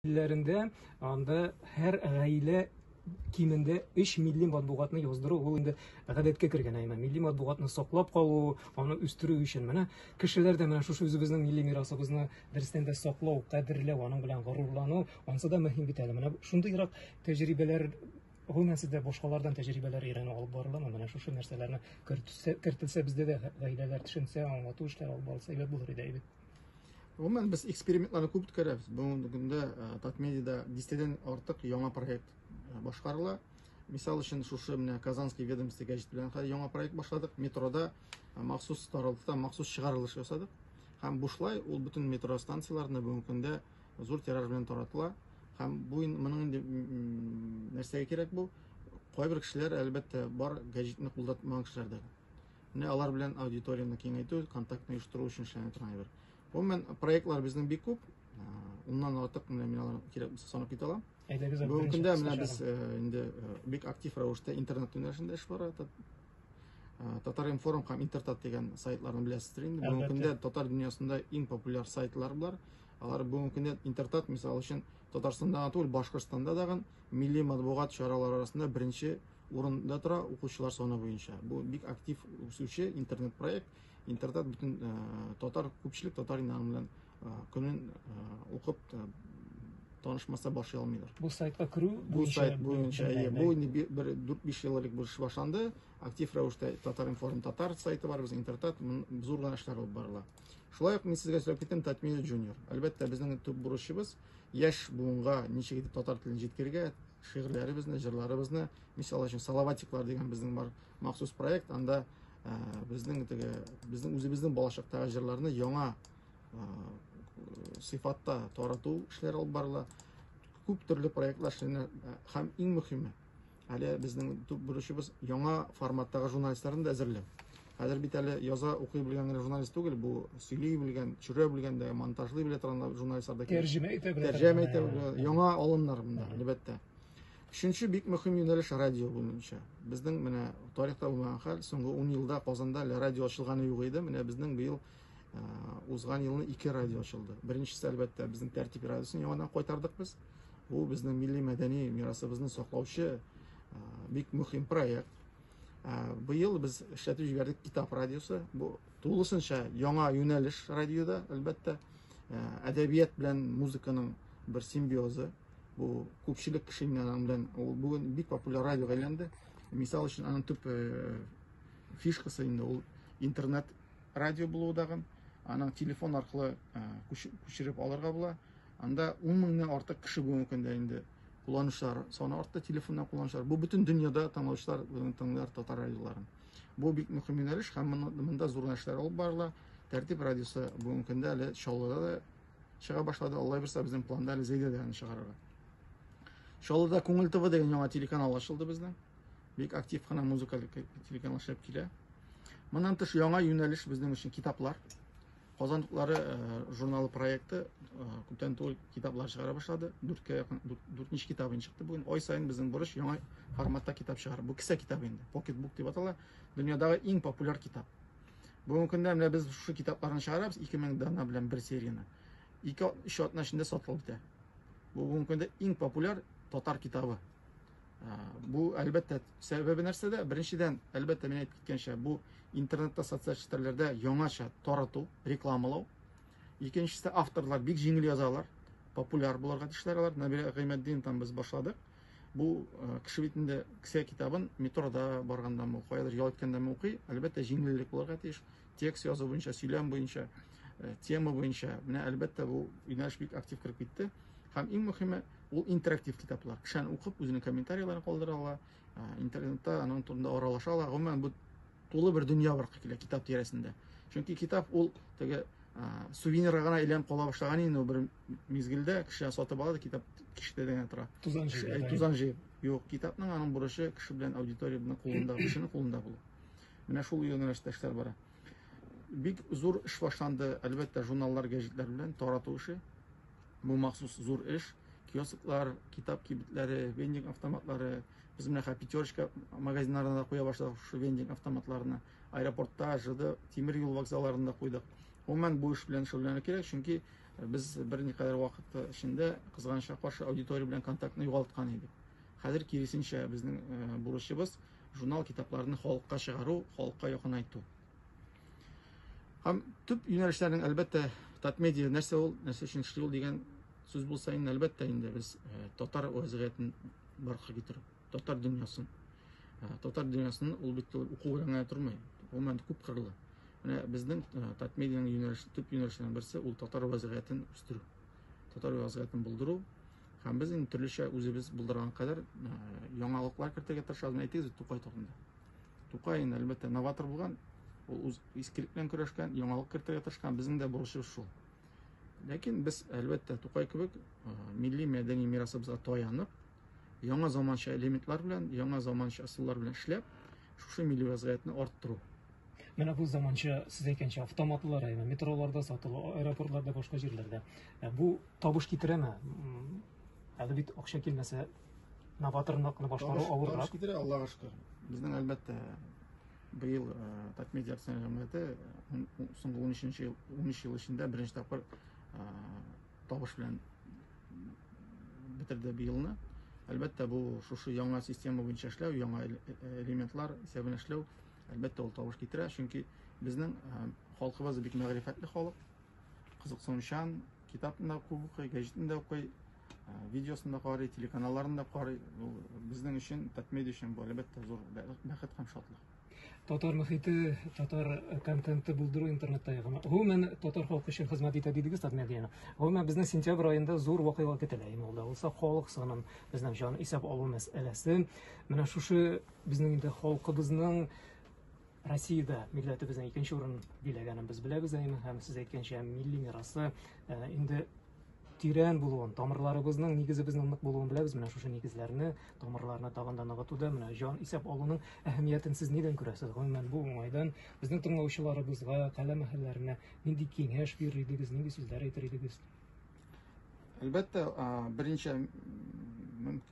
илләрендә анда һәр гаилә кимендә 3 милли матбугатны яздыру ул инде гадәткә кергән әйме. Милли матбугатны саклап калу, аны үстерү өчен менә кешеләр дә менә шушы үзебезнең милли мирасыбызны дөрестән дә саклау, кадерләү, аның белән горурлану, ансы да мөһим бит әле. Менә шундыйрак тәҗрибәләр Гомумән сездә башкалардан тәҗрибәләр өйрәнү алып барыламы? Менә шушы нәрсәләрне кертелсә, кертелсә бездә дә гаиләләр төшенсә, аңлату эшләре алып барылса, әйбәт булыр иде, әйбәт. Гомумән без экспериментларны күп үткәрәбез. Бүгенге көндә Татмедида дистәдән артык яңа проект башкарыла. Мисал өчен шушы менә Казанский ведомство гәҗит белән яңа проект башладык. Метрода махсус таралдыда махсус чыгарылыш ясадык. Һәм бушлай ул бөтен метро станцияләрендә бүгенге көндә зур тираж белән таратыла. Һәм бу моның инде нәрсәгә кирәк бу? Кайбер кешеләр әлбәттә бар гәҗитне кулдатмаган кешеләр дә. Менә алар белән аудиторияне киңәйтү, контактны оештыру өчен эшләнә торган әйбер. Гомумән, проектлар безнең бик күп. Уннан артык менә мин аларны кирәк булса санап китә алам. Әйдәгез, Бүгенге көндә менә без инде бик актив рәвештә интернет юнәлешендә эш бара. Татар-информ һәм Интертат дигән сайтларны беләсездер инде. Бүгенге көндә татар дөньясында иң популяр сайтлар бар. Алар бүгенге көндә Интертат, мисал өчен, Татарстанда түгел, Башкортстанда дагы милли матбугат чаралары арасында беренче Урында тора, укучылар саны буенча. Бу бик актив үсүче интернет-проект. Интертат бөтен татар, күпчелек татар инагы белән көнен укып танышмаса башлый алмыйлар. Бу сайтка керү бу сайт буенча бу инде бер 4-5 ел элек бу эш башланды. Актив рәвештә Татар информ татар сайты бар, без интертат зур гына эшләр алып барыла. Шулай ук мин сезгә сөйләп киттем Татмедиа Junior. Әлбәттә, безнең төп бурычыбыз яшь буынга ничек итеп татар телен җиткерергә, Шигырьләребезне, җырларыбызны, мисал өчен Салаватиклар дигән безнең бар махсус проект, анда ә, безнең теге безнең үзебезнең балачактагы җырларны яңа ә, сыйфатта тарату эшләре алып барыла. Күп төрле проектлар эшләнә һәм иң мөһиме, әле безнең төп бурычыбыз яңа форматтагы журналистларны да әзерләү. Хәзер бит әле яза, укый белгән генә журналист түгел, бу сөйли белгән, төшерә белгән дә, монтажлый белә торган журналистлар да кирәк. Тәрҗемә итә белә. Тәрҗемә итә белә. Яңа алымнар монда, әлбәттә. Өченче бик мөһим юнәлеш радио буенча. Безнең менә тарихта булмаган хәл, соңгы 10 елда Казанда әле радио ачылганы юк иде. Менә безнең быел узган елны ике радио ачылды. Беренчесе, әлбәттә, безнең тәртип радиосын яңадан кайтардык без. Бу безнең милли мәдәни мирасыбызны саклаучы бик мөһим проект. Быел без эшләтеп җибәрдек китап радиосы. Бу тулысынча яңа юнәлеш радиода, әлбәттә, әдәбият белән музыканың бер симбиозы. Бу күпчелек кеше белән ул бүген бик популяр радиога әйләнде. Мисал өчен, аның төп фишкасы инде ул интернет радио булуы дагын. Аның телефон аркылы күчереп алырга була. Анда 10 меңнән артык кеше бүгенге көндә инде кулланучылар саны артты, телефоннан кулланучылар. Бу бөтен дөньяда тыңлаучылар бүген тыңлар татар радиоларын. Бу бик мөһим юнәлеш һәм монда зур нәрсәләр алып барыла. Тәртип радиосы бүгенге көндә әле Чаллыда да чыга башлады. Алла бирса, безнең планда әле Зәйдә дә аны чыгарырга. Чаллыда Күңел ТВ дигән яңа телеканал ачылды безнең. Бик актив кына музыкаль телеканал эшләп килә. Моннан тыш яңа юнәлеш безнең өчен китаплар. Казан туклары журналы проекты күптән түгел китаплар чыгара башлады. Дүрткә якын, дүртенче китабы инде чыкты бүген. Ай саен безнең бурыч яңа форматта китап чыгару. Бу кесә китабы инде, покетбук дип атала. Дөньядагы иң популяр китап. Бүгенге көндә менә без шушы китапларны чыгарабыз, 2000 дана белән бер серияне. 2-3 атна эчендә сатылып бетә. Бу бүгенге көндә иң популяр татар китабы. Бу әлбәттә сәбәбе нәрсәдә? Беренчедән, әлбәттә мин әйтеп киткәнчә, бу интернетта, социаль челтәрләрдә яңача тарату, рекламалау. Икенчесе авторлар бик җиңел язалар, популяр буларга тиешләр алар. Нәбирә Гыймәтдин там без башладык. Бу кеше бит инде кесә китабын метрода барганда мо, каядыр ял иткәндә мо укый. Әлбәттә җиңеллек буларга тиеш. Текст язу буенча, сөйләм буенча, э, тема буенча. Менә әлбәттә бу юнәлеш бик актив кереп китте. Һәм иң мөһиме ул интерактив китаплар. Кешән укып, үзенең комментарийларын калдыра ала, э, интернетта аның турында аралаша ала. Гомумән бу тулы бер дөнья бар килә китап тирәсендә. Чөнки китап ул теге э, сувенирга гына әйләнеп кала башлаган инде бер мизгелдә кеше сатып ала да китап киштә генә тора. Тузан җыеп. Тузан җыеп. Юк, китапның аның бурычы кеше белән аудитория белән кулында, кешенең кулында булу. Менә шул юнәлештә эшләр бара. Бик зур эш башланды, әлбәттә, журналлар, гәҗитләр белән тарату эше. Бу махсус зур эш. Киосклар, китап кибетләре, вендинг автоматлары. Без менә хә пятерочка магазиннарына да куя башладык шушы вендинг автоматларына. Аэропортта, ЖД, тимер юл вокзалларында куйдык. Гомумән бу эш белән шөгыльләнү кирәк, чөнки без берникадәр вакыт эчендә кызганычка каршы аудитория белән контактны югалткан идек. Хәзер киресенчә безнең бурычыбыз журнал-китапларны халыкка чыгару, халыкка якынайту. Һәм төп юнәлешләрнең, әлбәттә, татмедиа нәрсә ул, нәрсә өчен эшли ул дигән сүз булса инде, әлбәттә, инде без э, татар вәзгыятен барга китерү, татар дөньясын. Э, татар дөньясын ул бит уку белән генә тормый. Гомумән күп кырлы. Менә безнең э, татмедианың юнәлеш, төп юнәлешләренең берсе ул татар вәзгыятен үстерү. Татар вәзгыятен булдыру, Һәм без инде төрлечә үзебез булдырган кадәр яңалыклар кертергә тырышабыз. Әйтегез, Тукай турында. Тукай инде әлбәттә новатор булган, ул үз искелек белән көрәшкән, яңалык кертергә тырышкан, безнең дә бурычыбыз шул. Ләкин без әлбәттә Тукай кебек милли мәдәни мирасыбызга таянып, яңа заманча элементлар белән, яңа заманча ысуллар белән эшләп, шушы милли вазгыятьне арттыру. Менә бу заманча, сез әйткәнчә, автоматлы районы, метроларда сатылу, аэропортларда, башка җирләрдә. Ә бу табыш китерәме? М, Әле бит акча килмәсә, новаторлыкны башкару Табыш- авыррак. табыш китерә, Аллага шөкер. Безнең әлбәттә быел э, Татмедиа акционер җәмгыяте э, ун- ун- соңгы 13 ел 13 ел эчендә беренче тапкыр э, табыш белән бетерде быелны. Әлбәттә бу шушы яңа система буенча эшләү, яңа эле- э, элементлар исәбенә эшләү Әлбәттә, ул тавыш китерә, чөнки безнең халкыбыз бик мәгърифәтле халык. Кызыксынучан, китапны да күп укый, гәҗитне дә укый, видеосын да карый, телеканалларын да карый. Ул безнең өчен, татмедиа өчен бу әлбәттә зур бәхет һәм шатлык. Татар мөхите, татар контенты булдыру интернетта ягына. Гомумән татар халкы өчен хезмәт итә дидегез татмедианы. Гомумән безнең сентябрь аенда зур вакыйга көтелә. Иң алда булса халык санын, безнең җан исәп алу мәсьәләсе. Менә шушы Безнең инде халкыбызның Россиядә милләтебезнең икенче урын биләгәнен без беләбез әйме һәм сез әйткәнчә милли мирасы э, инде тирән булуын, тамырларыбызның, нигезебезнең нык булуын беләбез. Менә шушы нигезләрне, тамырларны тагын да ныгытуда, менә җан исәп алуның әһәмиятен сез нидән күрәсез? Гомумән, бу уңайдан безнең тыңлаучыларыбызга, каләм әһелләренә нинди киңәш бирер идегез, нинди сүзләр әйтер идегез? Әлбәттә, беренче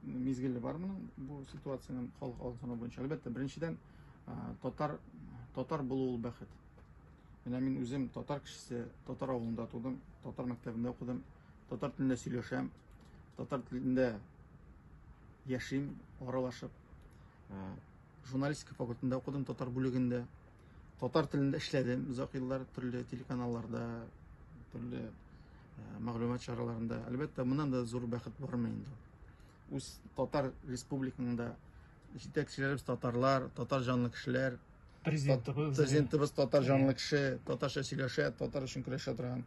мизгеле бар моның бу ситуациянең халык алсаны буенча. Әлбәттә, беренчедән татар татар булу ул бәхет. Менә мин үзем татар кешесе, татар авылында тудым, татар мәктәбендә укыдым, татар телендә сөйләшәм, татар телендә яшим, аралашып. журналистика факультетында укыдым, татар бүлегендә. Татар телендә эшләдем озак еллар төрле телеканалларда, төрле мәгълүмат чараларында. Әлбәттә, моннан да зур бәхет бармы инде. Үз татар республикаңда җитәкчеләребез татарлар, татар жанлы кешеләр, президентыбыз, президентыбыз татар жанлы кеше, татарча сөйләшә, татар өчен көрәшә торган.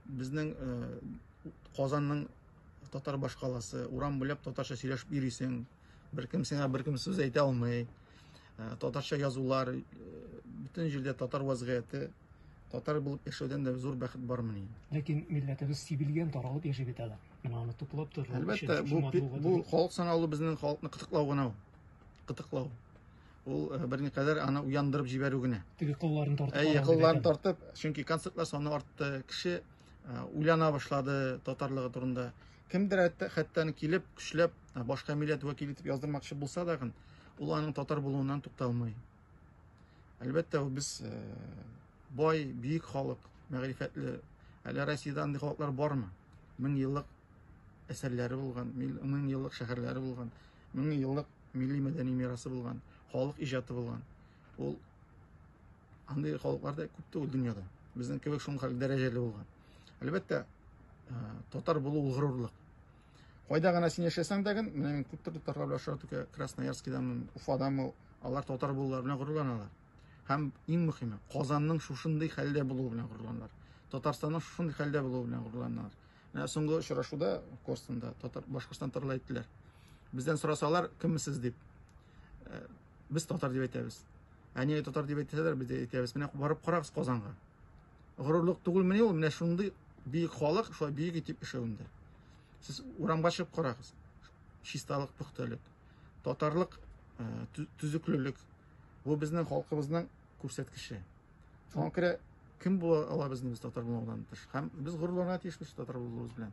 Безнең Казанның татар башкаласы, урам буйлап татарча сөйләшеп йөрисең. Беркем сиңа беркем сүз әйтә алмый. Ә, татарча язулар, э, бөтен җирдә татар вазгыяте, татар булып яшәүдән дә зур бәхет бармы ни? Ләкин милләтебез сибелгән, таралып яши бит әле. Менә аны туплап тору. Әлбәттә, бу бу халык саналу безнең халыкны кытыклау гына ул. Кытыклау. Ул э, берникадәр аны уяндырып җибәрү генә. Теге кылларын тартып. Әйе, кылларын тартып, чөнки концертлар саны артты, кеше э, уйлана башлады татарлыгы турында. Кемдер хәтта, хәтта килеп, көчләп башка милләт вәкиле итеп яздырмакчы булса дагын, ул аның татар булуыннан тукталмый. Әлбәттә, ул без э, бай, бөек халык, мәгърифәтле. Әле Россиядә андый халыклар бармы? Мең еллык әсәрләре булган, мең еллык шәһәрләре булган, мең еллык милли мәдәни мирасы булган, халык иҗаты булган. Ул андый халыклар да күп түгел дөньяда. Безнең кебек шуның хәл дәрәҗәле булган. Әлбәттә, э, татар булу ул горурлык. Кайда гына син яшәсәң дә гын, менә мин күп төрле татарлар белән очрату кә- Красноярскиданмы, Уфаданмы, алар татар булулары белән горурланалар. Һәм иң мөһиме, Казанның шушындый хәлдә булуы белән горурланалар. Татарстанның шушындый хәлдә булуы белән горурланалар. Менә соңгы очрашуда Костанда татар Башкортстан татарлар әйттеләр. Бездән сорасалар, кемме сез дип. Э, Без татар дип әйтәбез. Ә нигә татар дип әйтсәләр, без дә әйтәбез. Менә барып карагыз Казанга. горурлык түгелмени ул? Менә шундый бөек халык шулай бөек итеп эшләвендә. Сез урамга чыгып карагыз. Чисталык, пөхтәлек, татарлык, э, төзеклелек. Бу безнең халкыбызның күрсәткече. Шуңа күрә кем була ала безнең татар булудан тыш? Һәм без горурланырга тиешбез татар булуыбыз белән.